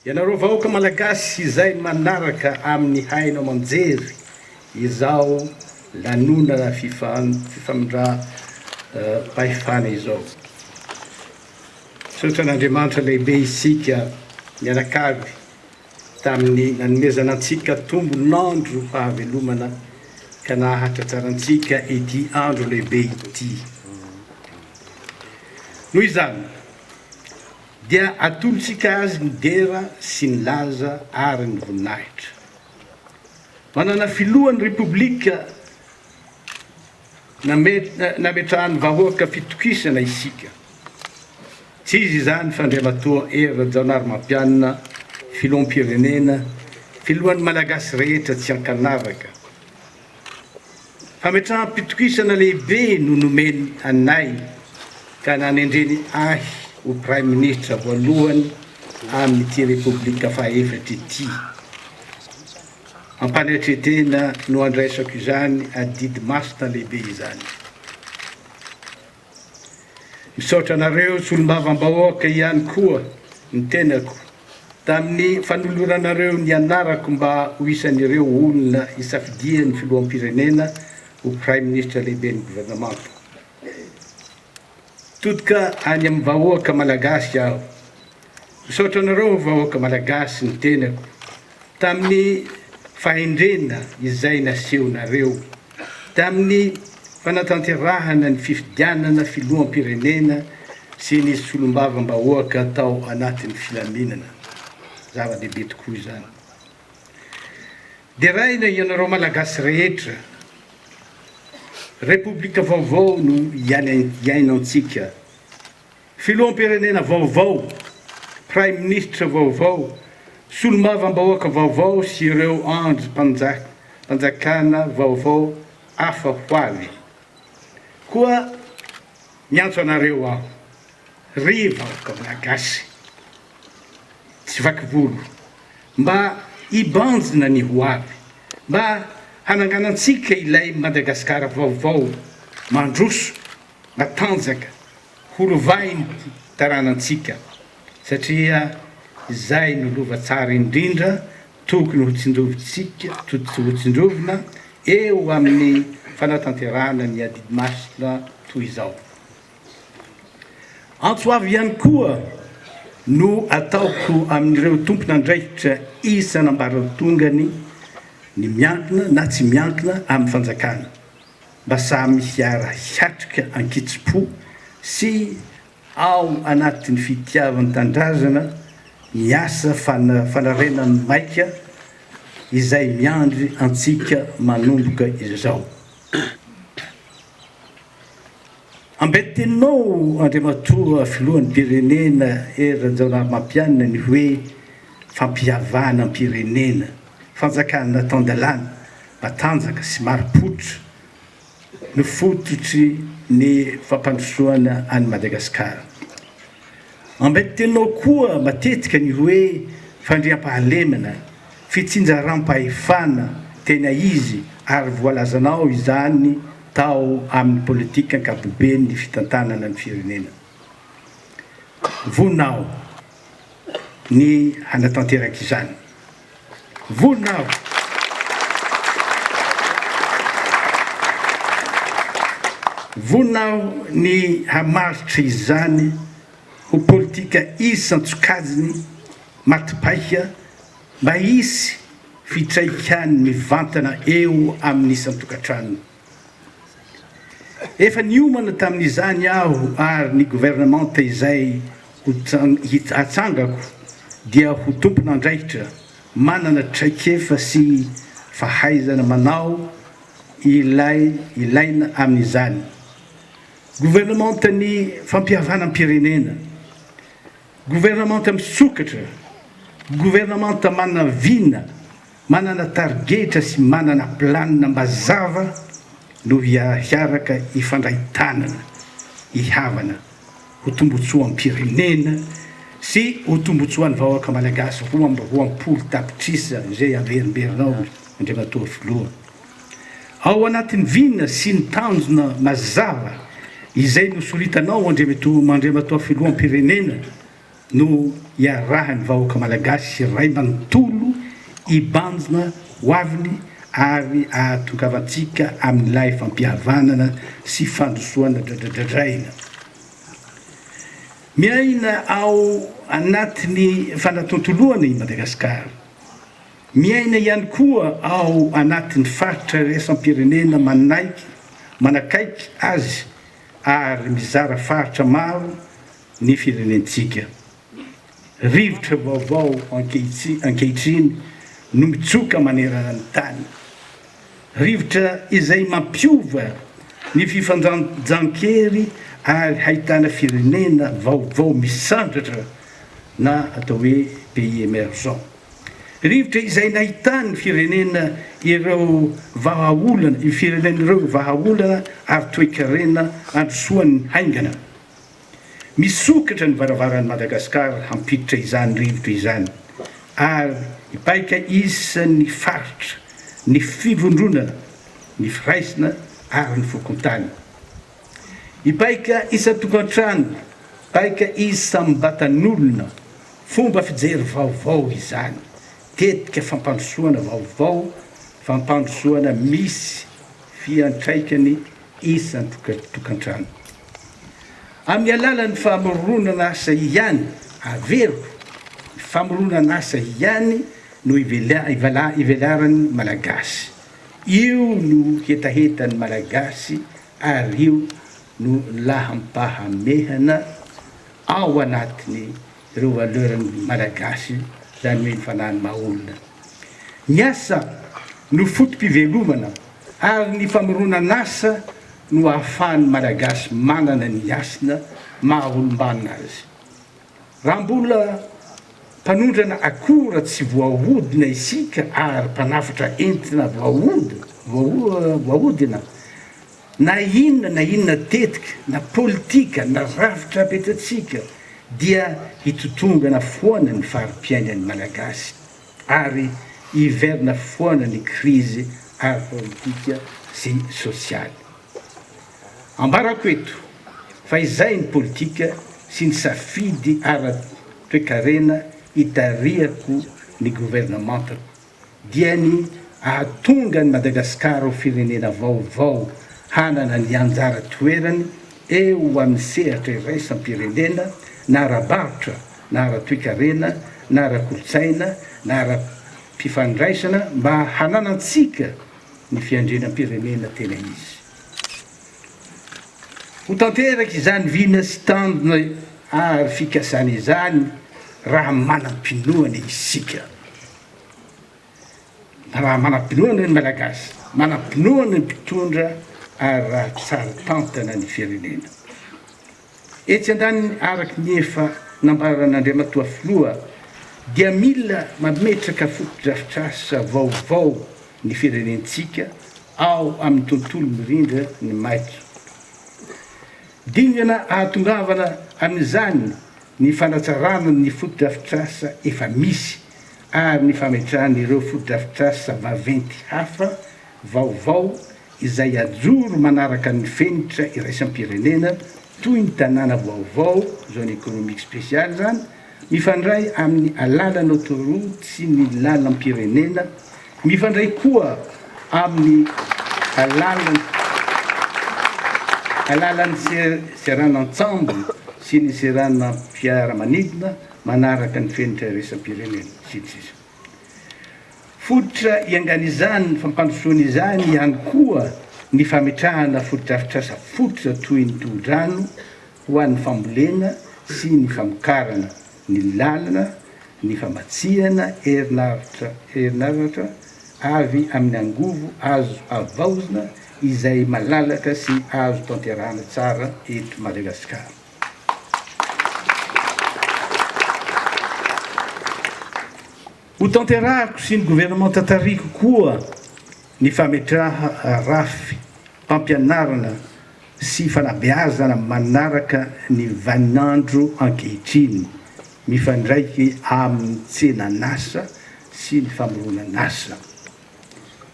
Ianareo vahoaka Malagasy izay manaraka amin'ny haino aman-jery izao lanonana fifamindram-pahefana izao. Misaotra an'Andriamanitra lehibe isika mianakavy tamin'ny nanomezana antsika tombon'andro fahavelomana ka nahatratra antsika ity andro lehibe ity. Noho izany, dia atolotsika azy ny dera sy ny laza ary ny voninahitra. Manana filohan'ny Repoblika nametrahan'ny vahoaka fitokisana isika. Tsy iza izany fa Andriamatoa Hery Rajaonarimampianina, Filoham-pirenena, Filohan'ny Malagasy rehetra tsy an-kanavaka. Fametraham-pitokisana lehibe no nomeny anay ka nanendreny ahy ho Praiminisitra voalohany amin'ity Repoblika fahaefatra ity. Am-panetre-tena no andraisako izany adidy masina lehibe izany. Misaotra anareo solombavambahoaka ihany koa ny tenako tamin'ny fanoloranareo ny anarako mba ho isan'ireo olona isafidian'ny Filoham-pirenena ho Praiminisitra Lehiben'ny Governemanta. Totoka any amin'ny vahoaka Malagasy aho. Misaotra anareo vahoaka Malagasy ny tenako tamin'ny fahendrena izay nasehonareo tamin'ny fanatanterahana ny fifidianana filoham-pirenena sy ny solombavambahoaka tao anatin'ny filaminana. Zava-dehibe tokoa izany. Deraina ianareo Malagasy rehetra. Repoblika vaovao no iainantsika. Filoham-pirenena vaovao, Praiminisitra vaovao, Solombavambahoaka vaovao sy ireo andrim-panjakana vaovao hafa ho avy. Koa miantso anareo aho, ry vahoaka Malagasy tsy vaky volo, mba hibanjina ny ho avy, mba hananganantsika ilay Madagasikara vaovao mandroso, matanjaka horovahin'ity taranantsika satria izay no lova tsara indrindra tokony hotsindrovintsika hotsindrovina eo amin'ny fanatanterahana ny adidy masina toy izao. Antso avo ihany koa no ataoko amin'ireo tompon'andraikitra isan'ambaratongany ny miankina na tsy miankina amin'ny fanjakana. Mba samy hiara hiatrika an-kitsim-po sy ao anatin'ny fitiavan-tandrazana ny asa fanarenan'ny maika izay miandry antsika manomboka izao. Ambaintenao Andriamatoa Filoham-pirenena Hery Rajaonarimampianina ny hoe fampihavanam-pirenena. Fanjakana tan-dalàna, matanjaka sy marim-pototra no fototry ny fampandrosoana an'i Madagasikara. Ambaintenao koa matetika ny hoe fandriampahalemana, fitsinjaram-pahefana tena izy ary voalazanao izany tao amin'ny politika ankapoben'ny fitantanana ny firenena. Vonao. ny hanatanteraka izany. Vonona aho Vonona aho ny hamaritra izany ho politika isan-tsokajiny matipaika mba hisy fitraikany mivantana eo amin'ny isan-tokantrano. Efa niomana tamin'izany aho ary ny governemanta izay hatsangako dia ho tompon'andraikitra manana traikefa sy fahaizana manao ilay ilaina amin'izany. Governemantan'ny fampihavanam-pirenena, governamanta misokatra, governamanta manavina Manana tarigetra sy manana planina mazava no hiaraka hifandray tanana hihavana ho tombotsoam-pirenena sy ho tombotsoan'ny vahoaka Malagasy roa amby roapolo tapitrisa izay averimberinao Andriamatoa Filoha. Ao anatin'ny vina sy ny tanjona mazava izay nosoritanao Andriamatoa Filoham-pirenena, no iarahan'ny vahoaka malagasy iray manontolo hibanjina ho aviny ary ahatongavantsika amin'ilay fampihavanana sy fandrosoana dradradradraina miaina ao anatin'ny fanatontoloana i Madagasikara. Miaina ihany koa ao anatin'ny faritra iraisam-pirenena manaiky manakaiky azy ary mizara faritra maro ny firenentsika. Rivotra vaovao ankehitriny no mitsoka manerana ny tany. Rivotra izay mampiova ny fifandanjan-kery ary hahitana firenena vaovao misandratra na atao hoe pays emergent. Rivotra izay nahitan'ny firenena ireo vahaolana, io firenena ireo vahaolana ary toekarena androsoany haingana. Misokatra ny varavaran'i Madagasikara hampiditra izany rivotra izany ary hipaika isan'ny faritra ny fivondronana, ny firaisana ary ny fokontany. Hipaika isan-tokantrano, paika isam-batan'olona, fomba fijery vaovao izany, tetika fampandrosoana vaovao, fampandrosoana misy fiantraikany isan-tokantrano. Amin'ny alalan'ny famoronan'asa ihany, averiko, ny famoronan'asa ihany no ivelaran'ny Malagasy. Io no hetahetan'ny Malagasy ary io no laham-pahamehana ao anatiny. ireo valeur ny Malagasy izany hoe ny fanahy ny maha olona. Ny asa no foto-pivelomana ary ny famoronan'asa no ahafahan'ny Malagasy manana ny hasina maha olom-banona azy. Raha mbola mpanondrana akora tsy voahodina isika ary mpanavotra entona voahodina, Na inona na inona tetika na politika na rafitra apetratsika dia hitotongana foana ny fari-piainan'ny Malagasy ary hiverina foana ny krizy ara-politika sy sosialy. Ambarako eto fa izay ny politika sy ny safidy ara-toekarena itarihako ny governementako. dia ny hahatonga an'i Madagasikara ho firenena vaovao hanana ny anjara toerany eo amin'ny sehatra iraisam-pirenena na ara-barotra na ara-toekarena na ara-kolontsaina na ara-pifandraisana mba hananantsika ny fiandrianam-pirenena tena izy. Ho tanteraka izany vina sy tanjona ary fikasana izany raha manam-pinoana isika. Raha manam-pinoana ny Malagasy, manam-pinoana ny mpitondra ary raha tsara tantana ny firenena. Etsy andaniny araka ny efa nambaran'Andriamatoa Filoha dia mila mametraka fotodrafitrasa vaovao ny firenentsika ao amin'ny tontolo mirindra ny maika. Dingana ahatongavana amin'izany ny fanatsarana ny fotodrafitrasa efa misy ary ny fametrahana ireo fotodrafitrasa vaventy hafa vaovao izay hajoro manaraka ny fenitra iraisam-pirenena toy ny tanàna vaovao, zone économique spéciale, izany mifandray amin'ny alalan'autoroute sy ny lalam-pirenena Mifandray koa amin'ny alalan'ny alalan'ny seranan-tsambo sy ny seranam-piaramanidina manaraka ny fenitra iraisam-pirenena, sy ny sisa Fototra iangan'izany fampandrosoana izany ihany koa ny fametrahana fotodrafitrasa fototra toy ny tohodrano ho an'ny fambolena sy ny famokarana, ny lalina, ny famatsiana herinaratra herinaratra avy amin'ny angovo azo avaozina izay malalaka sy azo tanterahana tsara eto Madagasikara. Ho tanterahiko sy ny governemanta tarihiko koa ny fametraha rafy pampianarana sy fanabeazana manaraka ny vaninandro ankehitriny mifandraiky amin'ny tsenan'asa sy ny famoronan'asa.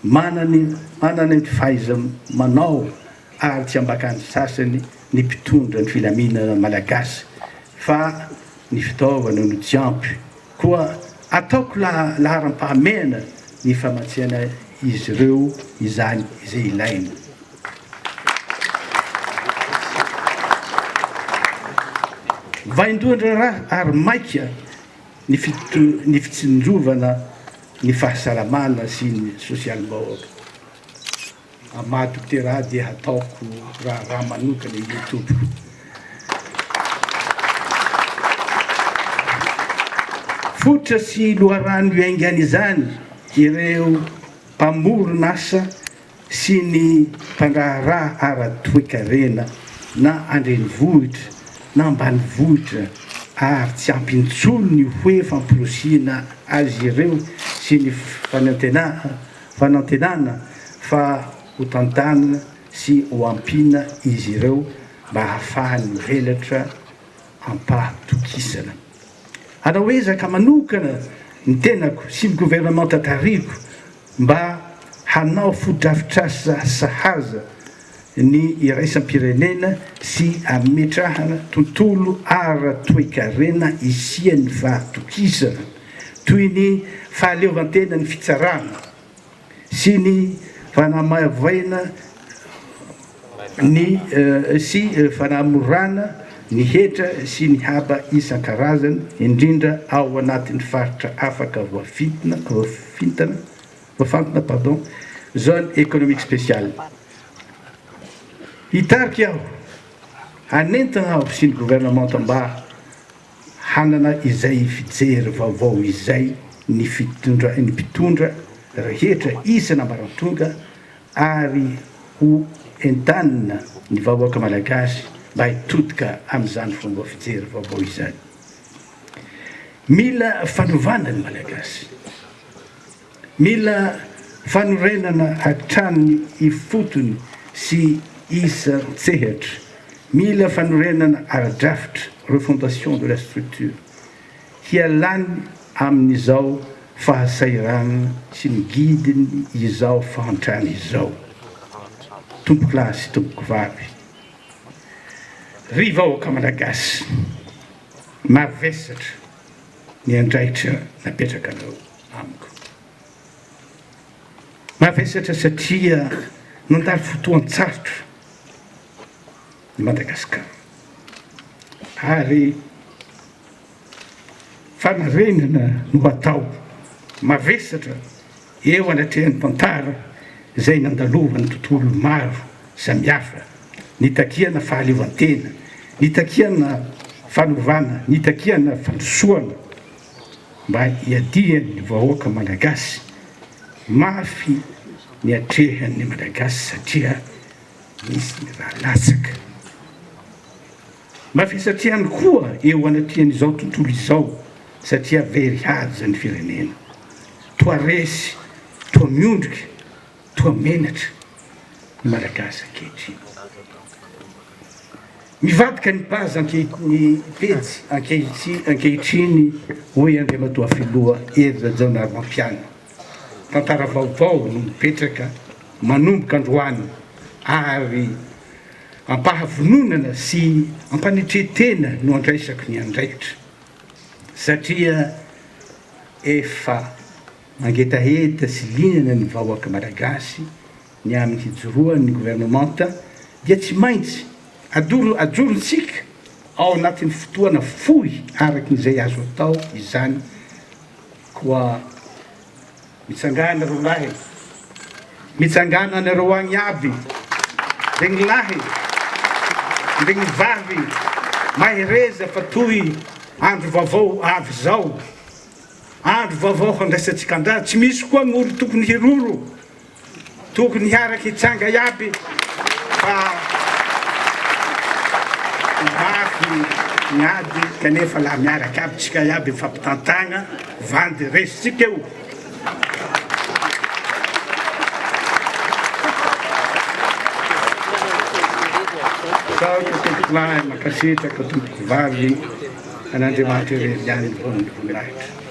Manany manana ny fahaiza manao ary tsy ambakan'ny sasany ny mpitondra ny filaminana malagasy fa ny fitaovana no tsy ampy Koa ataoko laharam-pahamehana ny famatsiana izy ireo izany izay ilaina. Vaindohan-draharaha ary maika ny fitsinjovana ny fahasalamana sy ny sosialim-bahoaka. Amado Tera dia hataoko raharaha manokana io Tompoko. Fototra sy loharano iaingany izany ireo mpamoron asa sy ny mpandraharaha ara toekarena na andrenivohitra na ambanivohitra ary tsy ampy intsony ny hoe fampirosiana azy ireo sy ny fanantenana Fanantenana fa ho tantanina sy ho ampiana izy ireo mba hahafahany mivelatra am-pahatokisana. Hanao ezaka manokana ny tenako sy ny governemanta tarihiko mba hanao fotodrafitrasa sahaza ny iraisam-pirenena sy hametrahana tontolo ara-toekarena isian'ny fahatokisana, toy ny fahaleovantenan'ny fitsarana sy ny fanamaivaina ny sy fanamorana ny hetra sy ny haba isan-karazany, indrindra ao anatin'ny faritra afaka voafintana. Voafantina pardon, zone economique speciale. Hitarika aho, hanentana aho sy ny gouvernemanta mba hanana izay fijery vaovao izay ny fitondra, ny mpitondra rehetra isana ambaratonga ary ho entanina ny vahoaka malagasy mba hitodika amin'izany fomba fijery vaovao izany. Mila fanovana ny malagasy. Mila fanorenana hatramin'ny ifotony sy isan-tsehatra. Mila fanorenana ara-drafitra, refondation de la structure, hialany amin'izao fahasahiranana sy ny gidiny izao fahantrana izao. Tompokolahy sy tompokovavy, ry vahoaka Malagasy mavesatra, ny andraikitra napetrakanao amiko. Mavesatra satria nandalo fotoan-tsarotra i Madagasikara ary fanarenana no atao mavesatra Eo anatrehan'ny tantara izay nandalovan'ny tontolo maro samihafa, nitakiana fahaleovantena, nitakiana fanovana, nitakiana fandrosoana mba hiadian'ny vahoaka Malagasy, mafy ny atrehan'ny Malagasy satria nisy ny raha latsaka. Mavesatra ihany koa eo anatrehan'izao tontolo izao satria very haja ny firenena. Toa resy, toa miondrika, toa menatra ny Malagasy ankehitriny. Mivadika ny base ankehitriny pejy ankehitriny, hoy Andriamatoa Filoha Hery Rajaonarimampianina. Tantara vaovao no mipetraka manomboka androany ary Ampahavononana sy ampanetren-tena no andraisako ny andraikitra satria efa mangetaheta sy liana ny vahoaka Malagasy ny amin'ny hijoroan'ny governemanta dia tsy maintsy adoro ajorontsika ao anatin'ny fotoana fohy araky ny izay azo atao izany koa Mitsangana ry lahy e! Mitsangana anareo agny aby, ndraigny lahy, ndraigny vavy mahereza fa toy andro vaovao avy zao. Andro vaovao handraisantsika andraha, tsy misy koa gn'olo tokony hiroro Tokony hiaraka hitsanga iaby fa mafy ny ady kanefa la miaraka aby tsika iaby mifampitantagna vandy resitsika eo. Misaotra tompoko lahy, mankasitraka tompoko vavy, an'Andriamanitra irery ihany ny vola mirahitra.